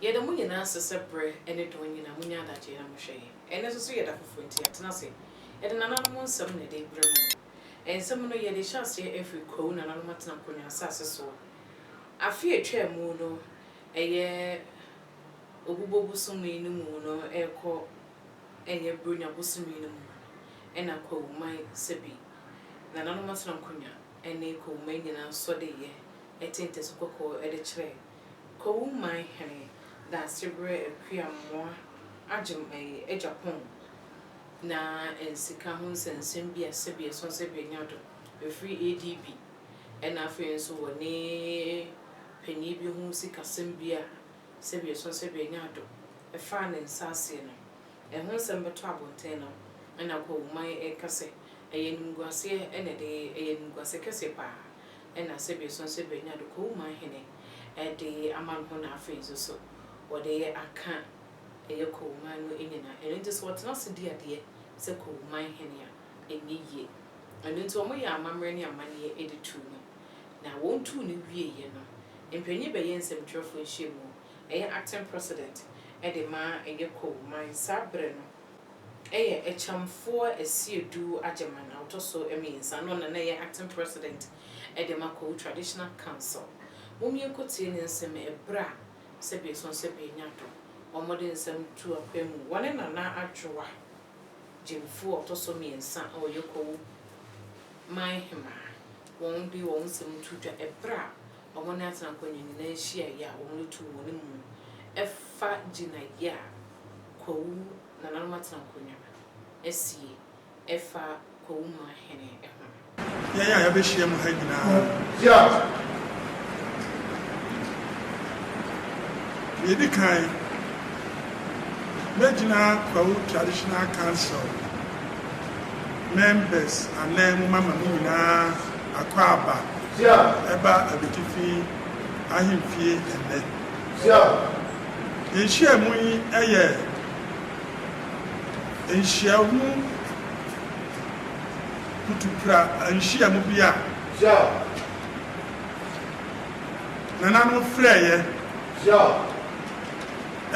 Yɛ da mu nyinaa sesɛ berɛ ne dɔn nyinaa mu nyɛ adagyeɛ na mohwɛ yɛn. Ɛnnɛ nso so yɛ da foforɔ nti yɛatena ase de nananom nsɛm na yɛde rebrɛ mo. Nsɛm no yɛde hyɛ aseɛ afiri Kwawu nananom atena Kronwa asase soɔ. Afe a ɛtwaa mu no ɛyɛ Obubo bosome no mu no rekɔ ɛnyɛ Buronya bosome no mu no na Kwawuman sɛbi nananom atena Kronwa ne Kwawuman nyinaa sɔ de yɛ ɛte ntɛso kɔkɔɔ de kyerɛ Kowu man hene Danseberɛ Akua Mmoa Agem ɛye agya pɔn na nsika ho nsɛnsɛm bi a sɛbi ɛsɔn sɛbi ɛnya do ɛfiri ADB ɛna afei nso wɔ ne panin bi ho sikasɛm bi a sɛbi ɛsɔn sɛbi ɛnya do ɛfaa ne nsa aseɛ no ɛho nsɛm bɛtɔ abonten no ɛna Kowu man ɛka sɛ ɛyɛ animguaseɛ ɛna ɛde ɛyɛ animguaseɛ kɛseɛ paa. Nna Serbia so nso ebenya do kowu ma hene de ama no ho na afei nso so wɔde aka ɛyɛ kowu man no nyina. Ɛno nti sɛ wɔtena ase di adeɛ sɛ kowu man hene a, ɛnyɛ yie. Ɛno nti wɔyɛɛ amammerɛ ne amanneɛ de tuu no. Na wɔn tuu no wieeɛ no, mpanin bɛyɛ nsɛmtwerɛfoɔ nhyiamu, ɛyɛ acting president, de maa ɛyɛ kowu man saa berɛ no. Ɛyɛ Akyamfoɔ Asiedu Agyeman a ɔtɔ so mmiɛnsa na ɔno na ɛyɛ Acting President de ma Kwahu Traditional Council. Mom yɛnkɔ tie ne nsɛm ɛberɛ a sɛbi ɛsɔ nsɛ bi anya dɔ wɔn wɔde nsɛm tu apɛ mu wɔne Nana Adwoa gyemfo a ɔtɔ so mmiɛnsa a ɔyɛ Kwahu man hemaa wɔn de wɔn nsɛm to dwa ɛberɛ a wɔne atenankɔnya nyinaa nhyiaeɛ a wɔde too wɔn mu no fa gyinaeɛ a Kwawu nananom atenankɔnya asie fa Kwawu man hene ho no. Yɛn a yɛabɛhyia mu ha nyinaa, deɛ ɛdi kan, mɛgyina Kwawu Traditional Council. members anan mu mama no nyinaa akwaaba ɛba abɛtifi ahemfie ɛnnɛ. Nhyiamu yi yɛ nhyiamu kutupra nhyiamu bi a nananom frɛeɛ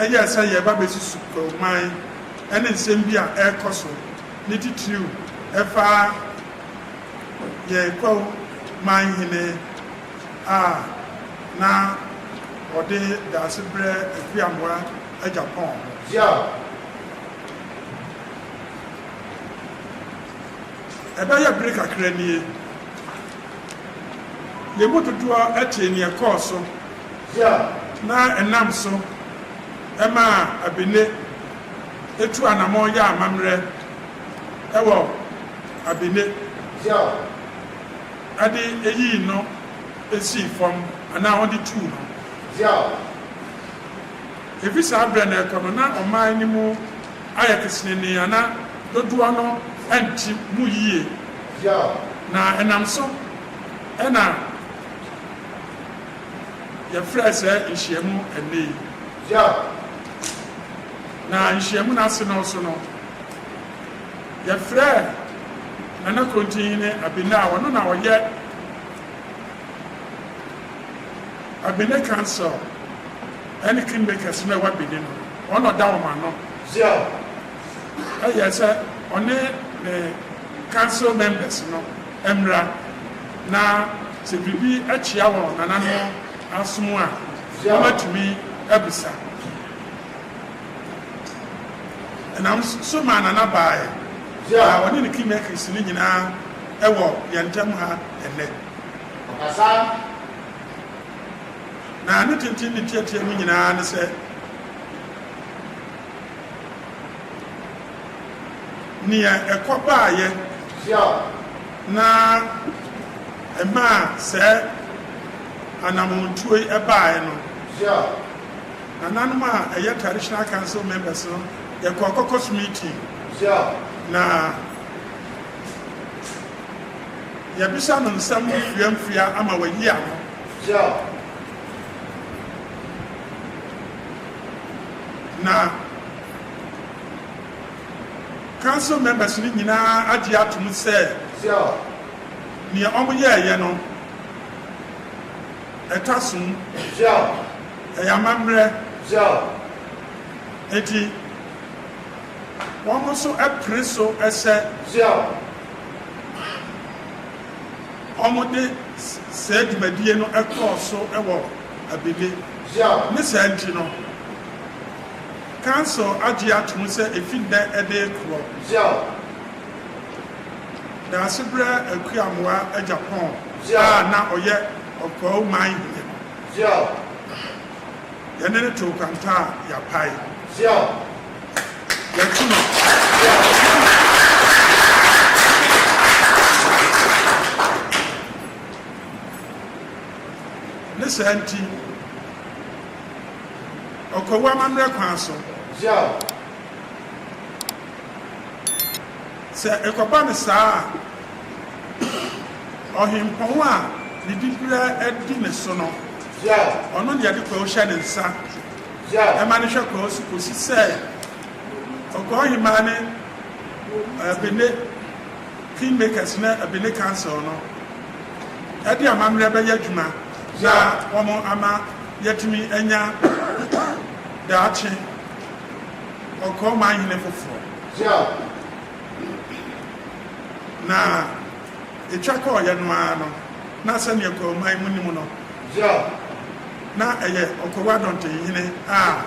ɛyɛ sɛ yɛreba bɛsi Sukuruman. ne nsɛm bi a ɛrekɔ so, ne titiriw ɛfa yɛn Kwahu man hene a na ɔde Daasebrɛ Akuamoa agya pɔn ho. Gyal. Ɛbɛyɛ bere kakra nie. Yɛn mu dodoɔ tee nea ɛkɔɔ so na ɛnam so maa Abene tuu anamɔn yɛɛ amammerɛ wɔ Abene de yii no sii fam anaa ɔde tuu no. Ɛfiri saa berɛ no rekɔ no, na ɔman no mu. ayɛ kesenenee a na dodoɔ no nte mu yie, na ɛnam so na yɛfrɛɛ saa nhyiamu ɛnnɛ yi. Na nhyiamu no ase no so no, yɛfrɛɛ Nana Krontinhene Abena a ɔno na ɔyɛ Abene Council, Ɛne kingmakers no a ɛwɔ Benin no, wɔn na ɔda wɔn ano. Zhao yɛɛ sɛ ɔne ne council members no mmra na sɛ biribi kyea wɔ nananom asom a, wɔatumi abisa. Ɛnam so maa Nana baeɛ, na ɔne ne kingmakers no nyinaa wɔ yɛn ntam ha ɛnnɛ. Ɔkasa. Na ne tenten ne tiatia mu nyinaa ne sɛ nea ɛkɔ baayɛ na ɛmaa saa anammɔntuo yi baeɛ no, nananom a ɛyɛ Traditional Council members no, yɛkɔɔ caucus meeting na yɛbisa no nsɛm mfeamfea ama wayi ano. Gyaw. Na Council members no nyinaa agye atom sɛ Gyaw. nea wɔyɛeɛ no ɛtwa som, Gyaw. ɛyɛ amammerɛ, Gyaw. enti wɔn nso pere so sɛ Gyaw. wɔde saa dwumadie no kɔɔ so wɔ Abele. Ne saa nti no, Council agye atom sɛ ɛfi nnɛ de rekorɔ, Daasebrɛ Akuamoa Agyapong a na ɔyɛ Ɔkwao man hene no, yɛne no too kwanta a yɛapae. Wɔtumi yɛ ɔsom adwuma. Ne saa nti, ɔkwawu amammerɛ kwan so. Sɛ ɛkɔba no saa a, ɔhempɔn a ne dibea di ne so no, ɔno na yɛde kwawu hyɛ ne nsa. ɛma no hwɛ kɔɔ so kɔsi sɛ ɔkɔɔ hemaa ne Bene Kingmakers ne Bene Council no de amammerɛ bɛyɛ adwuma na wɔn ama yɛatumi anya daakye ɔkɔɔ manhene foforɔ na Etwa kɔeɛ no ara no, na sɛdeɛ Kɔɔman mu nim no, Yao, na ɛyɛ Okowa Dɔntenhene a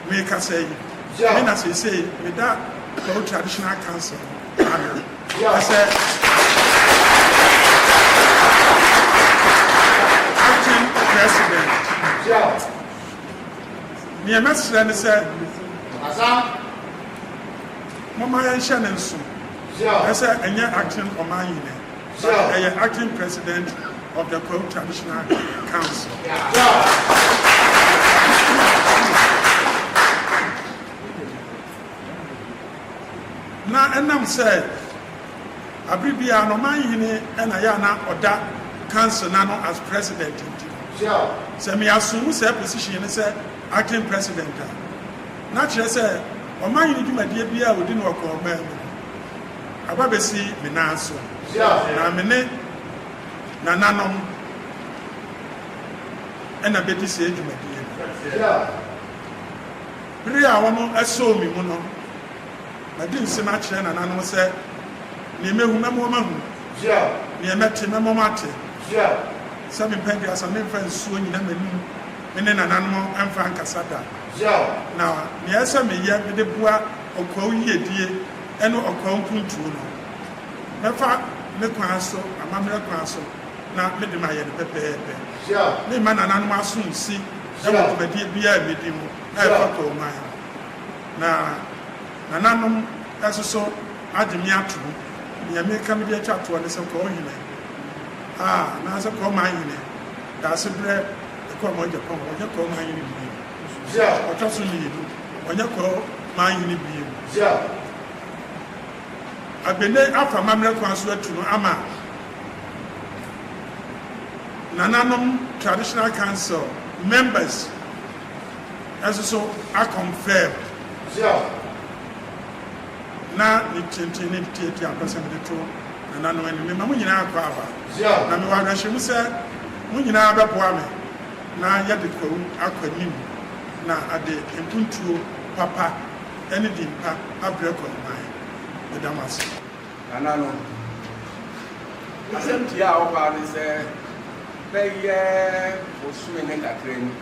merekasa yi, me na seesei meda Kau Traditional Council ano. Yao. Ɛsɛ Acting President. Yao. Deɛ mɛsrɛ ne sɛ. Asa. Momma yɛnhyɛ no nso sɛ ɛnyɛ acting ɔmanyinɛ but ɛyɛ acting president of the Kwahu Traditional Council. Na ɛnam sɛ abere biara no ɔmanyini na yɛ a na ɔda council no ano as president nti no, sɛ me assume saa position no sɛ acting president a, na kyerɛ sɛ, Ɔman yi ne dwumadie biara a wɔdi no wɔ kɔɔman mu no aba bɛsi me nan so, na me ne nananom na bɛdi saa dwumadie no. Bere a wɔasoo me mu no, madi nsem akyerɛ nananom sɛ, Deɛ mahu, mɛma wɔahunu, deɛ mate, mɛma wɔate, sɛ mempɛ aduasa, memfa nsuo nnyina m'anom, me ne nananom mfa nkasa da. Yaw. Na nea ɛsɛ sɛ meyɛ de boa ɔkwaw yiedie ne ɔkwaw mpuntuo no, mɛfa me kwan so, amammerɛ kwan so, na mede mayɛ no pɛpɛɛpɛ. Yaw. Meremma nananom asomsi wɔ dwumadie biara a medi ho a ɛfata ɔman ho. Na nananom nso so agye me atom. Nea mereka mede atwa toɔ ne sɛ, Kɔɔhene a, anaasɛ Kɔɔmanhene, Daasebrɛ, Ɛkɔɔ mɔɔ Japan wɔ ɔnyɛ kɔɔ maa nyini bie mu. Gye a ɔtwa so mmienu wɔ ɔnyɛ kɔɔ maa nyini bie mu. Gye a Abene afa amammerɛ kwan so atu no ama nananom Traditional Council members nso so akɔnfɛm. Gye a Na ne tenten ne ne tiatia mpɛ sɛ mede to nananom anim. Mema mo nyinaa akwaaba. Gye a Na mewɔ awerɛhyɛmu sɛ. Mo nyinaa bɛboa me na yɛde Kwawu akɔ anim na ade mpuntuo papa ne din pa abrɛ Kwawu man. Meda mo ase. Nananom, asɛm tiaa a ɔbaa ne sɛ bɛyɛ bosome ne kakra ni,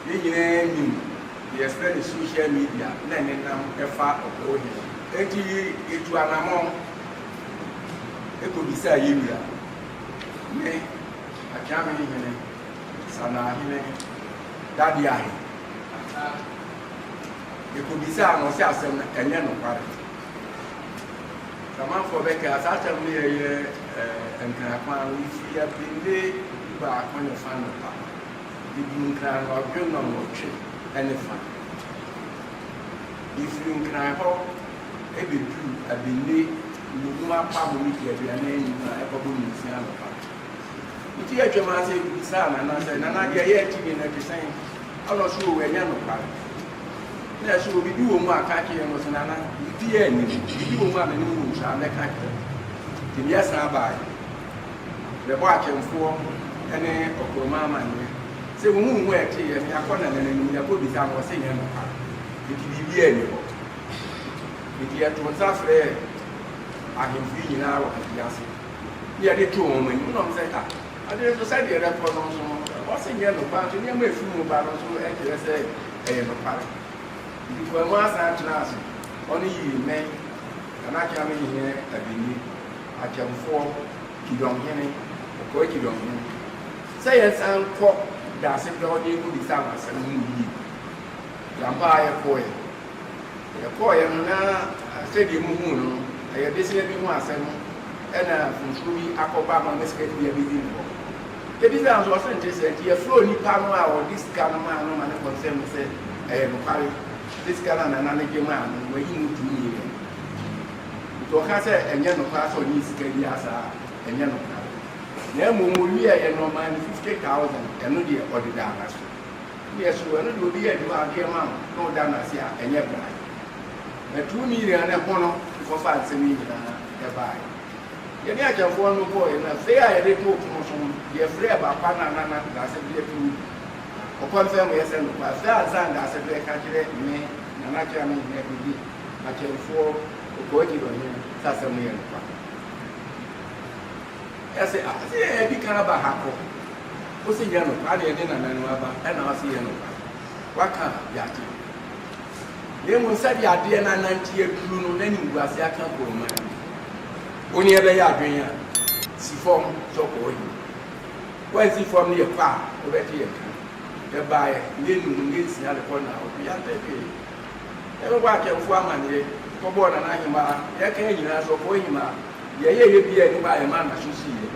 yɛn nyinaa nim deɛ yɛfrɛ no social media na ɛnenam fa ɔbrɛ ohene. Enti yɛtu anammɔn kɔbisaa yɛn wura Me, Akyame hene, Sanaa hene, Dadeaa he, Ataa he, yɛkɔbisaa no, ɔse asɛm no ɛnyɛ nokware. Samanfoɔ bɛkaa saa asɛm no yɛyɛ eh, Nkran kwan no, nti yɛbende du baako ne fa anɔpa. Yɛduru Nkran no, ɔdwe nnɔnwɔtwe ne fa. Yɛfiri Nkran hɔ, bɛduru Abenne nnommum apa ho mita aduanan anum a ɛkɔbɔ ne nsia anɔpa. Nti yɛtwam ara sɛ yɛkɔbisaa Nana sɛ, Nana, deɛ yɛrete nne no te sɛn? Ɛna ɔse, Oo, ɛnyɛ nokware. Na ɛse, Oo, biribi wɔ mu a, ka kyerɛ yɛn. Na ɔse, Nana, biribiara nni mu. Biribi wɔ mu a me ne wo wɔ nhyira a, mɛka akyerɛ wo. Nti meɛ san baeɛ bɛbɔɔ atwɛnfoɔ ne ɔkorɔma amanneɛ sɛ wɔn ho wɔn ho a ɛteeɛ no, yɛakɔ Nana no anim, yɛakɔbisa no, ɔse ɛnyɛ nokware. Nti biribiara nni hɔ. Enti yɛtoo nsa frɛɛ ahemfo yi nyinaa wɔ afiase, na yɛde too wɔn anim, na wɔsɛ, Ah, ade nso sɛdeɛ ɛrekɔ no nso, ɛwɔ sɛ nyɛ nokware nso, nneɛma a ɛfiri mu ba no nso kyerɛ sɛ ɛyɛ nokware. Enti Kpɔamu asan tenaa ase, ɔne Yirimɛn, Kanakyame hene Abini, Akyɛmfoɔ, Kidong hene, Ɔkɔɛ Kidong hene, sɛ yɛnsan nkɔ Daasepɛ hɔ na yɛnkɔbisa wɔn asɛm no mu yie. Yɛn ara yɛkɔeɛ. Yɛkɔeɛ no na sɛdeɛ mohuu no no, ɛyɛ bosea bi ho asɛm na mfomsoɔ bi akɔba ma ne sika no bi abɛdi ne hɔ. Yɛbisaa nso, ɔse nte saa, nti yɛfrɛɛ onipa no a ɔde sika no maa no ma no kɔnsɛɛm no sɛ ɛyɛ nokware sɛ sika no a Nana no gye maa no no wayi mu two million pii. Nti ɔka sɛ ɛnyɛ nokware sɛ ɔnyee sika biara saa a, ɛnyɛ nokware. Na mmom ɔwieeɛ no ɔmaa no fifty thousand, ɛno deɛ ɔde daa n'aso. Yes o, ɛno deɛ obi yɛ adwuma a ɔtwe ma wo na ɔda no ase a, ɛnyɛ bra. Na tu ne nyinaa ne ho no nkɔfaa nsɛm yi nyinaa ɛbaaɛ. Yɛne akyɛmfoɔ no kɔɔɛ na fei a yɛde too pono so no, yɛfrɛɛ Bapa na Nana Daasɛberɛ firi mu. Ɔkɔnfɛm yɛ sɛ nokwaa fei ansa na Daasɛberɛ ka kyerɛ me na n'akyerɛ a me nyinaa bi ne akyɛmfoɔ Okoagye Ɔhene sɛ asɛm no yɛ nokwaa. Ɛyɛ se a ɔse yɛn adi kan aba ha kɔ. Ose nyɛ nokwa ade yɛde nanan mu aba ɛna ɔse yɛ nokwa. Waka a yagye. Na mmom sɛdeɛ adeɛ no anante aduru no na animguase aka agu ɔman no mu. Wo ne ɛbɛyɛ adwen a, si fam sɛ ɔkɔ hɔ yie. Woansi fam ne yɛkɔ a wobɛgye yɛn ka. Yɛbaeɛ nyɛ nnum nyɛ nsia de kɔ Naaɔtwe yɛante hwee. Yɛbɛbɔ Atwɛmfoɔ amaneɛ, kɔbɔɔ Nana Ahemaa, yɛkaa nyinaa nso ɔkɔɔ Ahimaa. Yɛyɛ yɛ bia ɛde baa yɛ ma na so si yɛ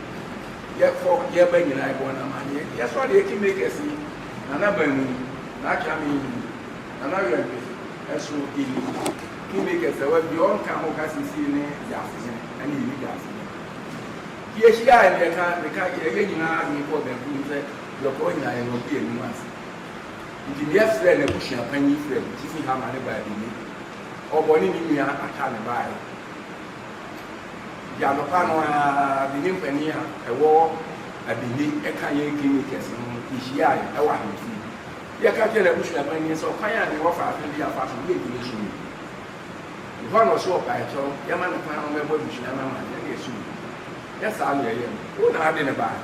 yɛ kɔ yɛ ba nyinaa ɛbɔ na ma yɛ yɛ sɔ de ɛki makers yi nana baa mu yi na atwa me yi nana wɛ mpe ɛso iyi ki makers ɛwɛ bia ɔnka ho ka si si ne yɛ asene ɛne yɛ leader asene ki yɛ hyia a yɛ ka ne ka yɛ yɛ nyinaa adwene kɔ bɛn ku nsɛ yɛ kɔ nyinaa yɛ nɔ bia nimu ase nti ne yɛ frɛ na busua panyin frɛ si si ha ma ne baa bi ne ɔbɔ ne ne nua aka ne baa yɛ. Di anɔpa no ara, Benin panyin a ɛwɔ Abili ɛka yɛn Guinea kɛse no yehyiae wɔ ahemfi. Yɛka kyerɛɛ n'abusua panyin sɛ ɔkwan a ne wɔfa afe bi afa so yɛ Guinea som no bi. Ɛhɔ na ɔsoo ɔpae kyɛw, yɛma no kwan ma ɔmmɛbɔ abusua no amanneɛ ne ɛso bi. Nyɛ saa na yɛyɛ no. Wo na wode no bae.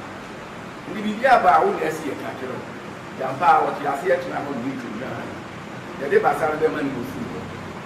Enti biribiara ba a, wo na asi yɛka akyerɛ wo. Enti ampa ara, ɔtee ase yɛtena hɔ no, ne twa dwiraa no. Yɛde basa no bɛma no na ofii hɔ.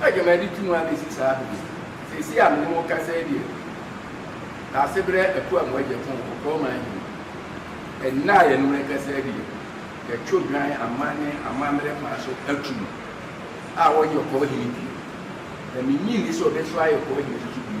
Sɛ dwumadi tu mu ara bɛsi saa bere yi, seesei a me ne mo rekasa yi deɛ, Daasebrɛ Apuaa mu agya tɔn wɔ Burma he. Nna a yɛne mo rekasa yi deɛ, yɛto dwan aman ne amammerɛ kwan so atu no a ɔnyɛ ɔkɔɔ hene bio, na mennye nni sɛ ɔbɛsɔre ayɛ ɔkɔɔ hene nso so bio.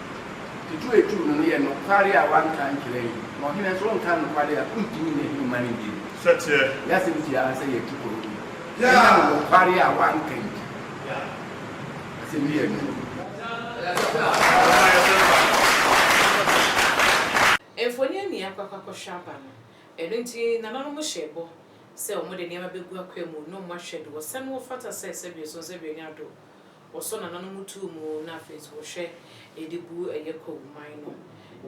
Tutuutu no no yɛ nokware a wɔanka ankyerɛ yɛn, na ɔhene nso ɔnkaa nokware a ontumi nyɛ hene mma no bio. Yɛn asɛm si ara sɛ yɛatu kɔ bio ɛnam nokware a wɔanka nti. Asɛm bi yɛ nwonwa. Mfoni a nea akɔ akɔhwɛ aba no. Ɛno nti nananom hyɛɛ bɔ sɛ wɔde nneɛma begu akwaa mu, na wɔahwɛ do. Wɔsan wɔfata sɛ sɛbio so nsɛbio nya do. Wɔsɔ nananom tu mu na afei nso wɔhwɛ de bu ɛyɛ kwawu man no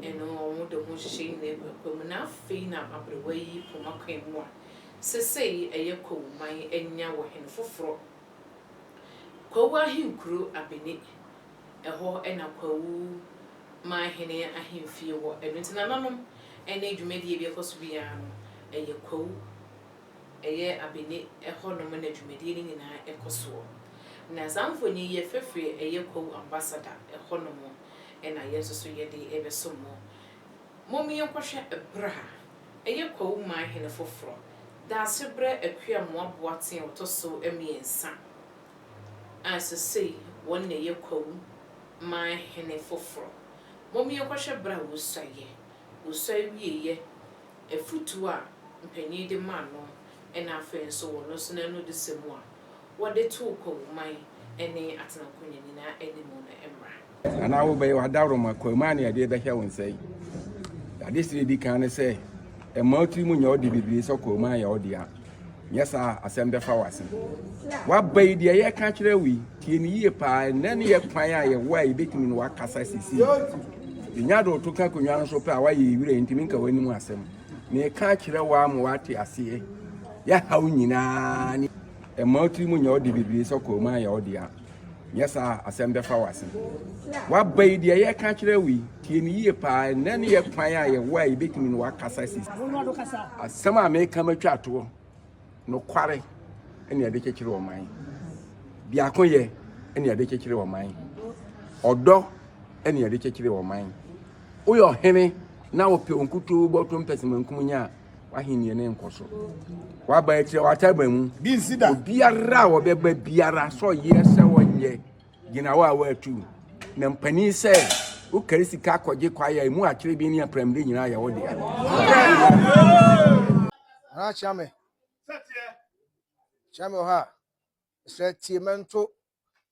ɛno wɔde ho nhyehyɛe nyinaa gu akwan mu na afei na aberewa yi poma kwan mu a sesei ɛyɛ kwawu man anya wɔ hene foforɔ Kwawu ahenkuro Abeni ɛhɔ na kwawu man hene ahemfie wɔ ɛno nti nananom ɛne dwumadie bi ɛkɔ so biara no ɛyɛ kwawu ɛyɛ Abene hɔnom na dwumadie no nyinaa kɔ soɔ. Na saa mfonin yi yɛ fafiri a ɛyɛ Kwawu Ambassador hɔnom na yɛn nso so yɛde rebɛso mo. Mom yɛnkɔhwɛ berɛ a ɛyɛ Kwawu man hene foforɔ, Daasebrɛ Akuamoah Boateng a ɔtɔ so mmiɛnsa a sesei wɔn na ɛyɛ Kwawu man hene foforɔ. Mom yɛnkɔhwɛ berɛ a wɔsuaeɛ, wɔsuae wieeɛ. afotu a mpanyin de maa no ne afei nso wɔ no so no anodisɛm a wɔde too Kwamuman ne Atenakonya nyinaa anim no mmra. Anaa wobɛyɛ w'adaworoma Kwamuman ne ɛdeɛ bɛhyɛ wo nsa yi? Adesrɛ a ɛdi kan ne sɛ, mma wo tiri mu nyɛ wo de bebree sɛ Kwamuman yɛ wo dea. Nyɛ saa a, asɛm bɛfa wo ase. W'aba yi, deɛ yɛka akyerɛ wo yi, tie no yie paa. Ɛnnɛ ne yɛ kwan a yɛwɔ a yɛbɛtumi ne wo akasa sisi. Yɛnya de wo to ka akonnwa no so pɛ a, woayɛ yɛ wura, yɛntumi nka w'anim asɛm. Meka akyerɛ wo ama woate aseɛ. Yɛhaw nyinaa ne ɛma wo tiri mu nyɛ wo de bebree sɛ kɔɔ mu ayɛ wo dea. Nyɛ saa a, asɛm bɛfa wo ase. W'aba yi, deɛ yɛreka kyerɛ wo yi, tie no yie paa. Ɛnnɛ ne yɛ kwan a yɛwɔ a yɛbɛtumi ne w'akasa si. Asɛm a meka matwa atoɔ, nokware ne ɛde kyekyere ɔman. Biakoyɛ ne ɛde kyekyere ɔman. Ɔdɔ ne ɛde kyekyere ɔman. Woyɛ ɔhene na wopɛ wo nkutoo bɔtɔ mpɛsɛmankum nyɛ a, w'ahenni ne nkɔ so waba akyirɛ wata aba mu obiara a wɔbɛba biara sɛ ɔyɛ sɛ ɔnyɛ gyina hɔ a wɔatu na mpanin sɛ wokari sika akɔgye kwae a ɛmu akyerɛ bi ne apramde nyinaa yɛ wo dea Ana kyea me kyea me wɔ ha sɛ tie mɛnto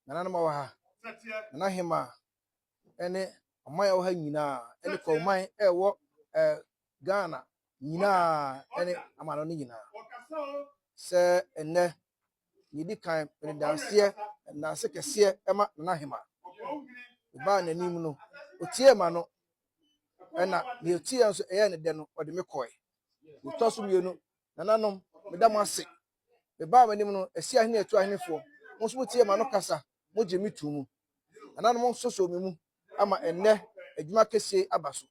nananom a wɔ ha nana hema ne ɔman a ɛwɔ ha nyinaa ne Kɔɔman a ɛwɔ eh, Ghana nyinaa ne amano no nyinaa sɛ ɛnnɛ yɛdi kan mede danseɛ danse kɛseɛ ɛma Nana Hema ɛbaa n'anim no ɔtiee ma no ɛna deɛ ɔtiee nso ɛyɛ ne dɛ no ɔde me kɔe ɛtɔ so mmienu nananom meda mo ase mebaa m'anim no ɛsi ahene ɛtu ahenefoɔ mo nso motiee ma no kasa Mugye me too mu. Nananom nsosoo me mu ama ɛnnɛ adwuma kɛseɛ yi aba so.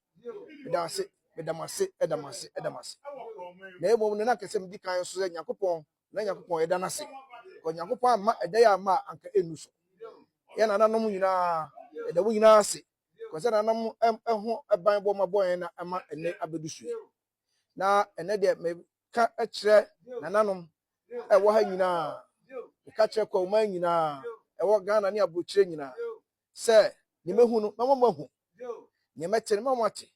Meda mo ase, meda mo ase, da mo ase, da mo ase. Na mmom no, na anka sɛ medi kan nso sɛ Nyankopɔn, na Nyankopɔn yɛda no ase. Because Nyankopɔn amma ɛda yi amma a, anka ɛnnu so. Yɛn nananom nyinaa, yɛda mo nyinaa ase. Because sɛ nananom ho ban bɔ ma bɔ yɛn na ɛma ɛnnɛ abɛdu so yi. na ɛnɛ deɛ meka kyerɛ nananom ɛwɔ ha nyinaa meka kyerɛ kwaman nyinaa ɛwɔ ghana ne aburokyerɛ nyinaa sɛ ne mɛhu no mɛma mo ahu ne mɛte no mɛma mo ate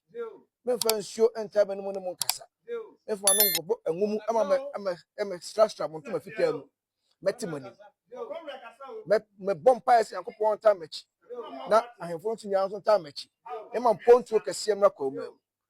memfa nsuo ntaa mɛno mu ne mo nkasa memfa ma no nkɔbɔ ɛnwo mu ɛma mɛ ɛmɛ ɛmɛ strastra mo ntoma fitaa mu mɛte mo anim mɛ mɛbɔ mpaeɛ sɛ nyankopɔn ntaa m'akyi na ahemfo nso nyinaa nso ntaa m'akyi ɛma mpontuo kɛseɛ mmra kwaman mu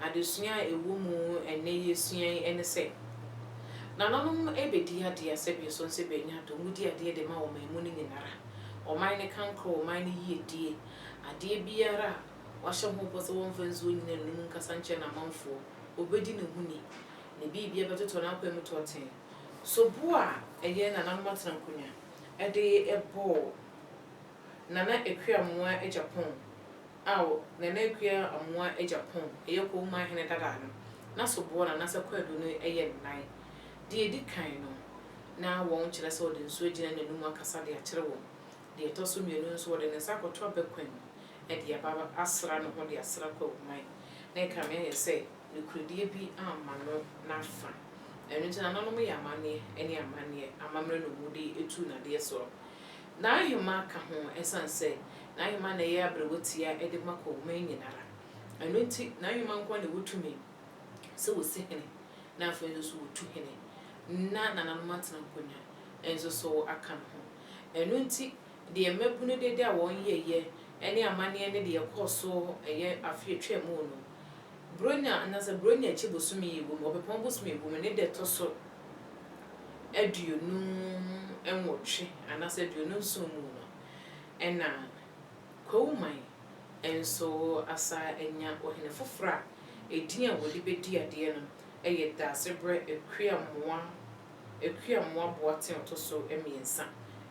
Adesua a ɛwɔ mu ɛnnɛ yɛsua yi ne sɛ, Nananom bɛdi adeɛ sɛ bɛsɔ nsɛ bɛanya adom, wodi adeɛ de ma ɔman mu no nyinara, ɔman no kankorɔ, ɔman no yiedie, adeɛ biara a wɔahyɛ ho bɔ sɛ wɔmfa nsuo nyina no nom nkasa nkyerɛ n'amanfoɔ, ɔbɛdi ne ho ni, ne biribia bɛtotɔ n'akwan mu tɔɔten. So bo a ɛyɛ nananom atenankonnwa de bɔ. Nana Akua Amoah Agyapong a wɔ Nana Akua Amoah Agyapong, ɛyɛ Kowuma hene dada no n'asoboɔ na Nasa Kwadu no yɛ ne nan. Deɛ ɛdi kan no, na wɔn kyerɛ sɛ ɔde nsuo agyina n'anum akasa de akyere wɔn. Deɛ ɛtɔ so mmienu nso, wɔde ne nsa akɔto abakwan mu de aba asra ne ho de asra Kwawoman. Na ɛkame ayɛ sɛ nokorɛdie bi amma no n'afa. Ɛno nti, nananom yɛ amanneɛ ne amanneɛ, amammerɛ na wɔde tu nnadeɛ soɔ. N'ahema ka ho esiane sɛ n'ahema na ɛyɛ aberewa tia de ma kɔ ɔman nyinara. Ɛno nti, n'ahema nkoa na ɛwɔ tumi sɛ wɔsi hene na afei nso so wɔtu hene na nananom atena nkonya nso so aka no ho. Ɛno nti, deɛ mmabunu dede a wɔn yɛyɛ ne amanneɛ ne deɛ ɛkɔɔ so yɛ afe a ɛtwaam no, Buronya anaasɛ Buronya akyi bosome yi bom, ɔpɛpɔn bosome yi bom, ne da ɛtɔ so aduonu nwɔtwe anaasɛ aduonu nson mu no na Kwawoman nso asa anya ɔhene foforɔ a edin a wɔde bɛdi adeɛ no yɛ Daasebrɛ Akuamoah Akuamoah Boateng ɔtɔ so mmiɛnsa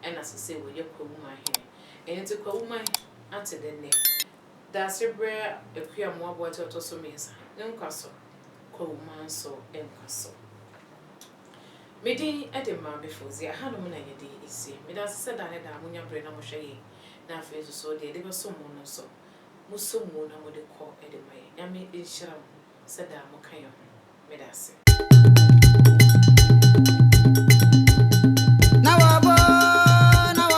na sesei ɔyɛ Kwawoman hene. Ɛno nti Kwawoman ate dɛ nnɛ? Dase brɛ Akua mmoaboa ti ɔtɔ so mmiɛnsa no nkwa so, Kwawu Manso nkwa so. Me din de Maame Fauziah, aha nom na yɛde resie. Meda ase sɛ daa ne daa mo nya bere na mohwɛ yɛn, na afei nso so deɛ yɛde bɛsom mo no nso mo som mu na mode kɔ de ma yɛn. Nyame nhyira mo sɛ daa mo ka yɛn ho. Meda ase.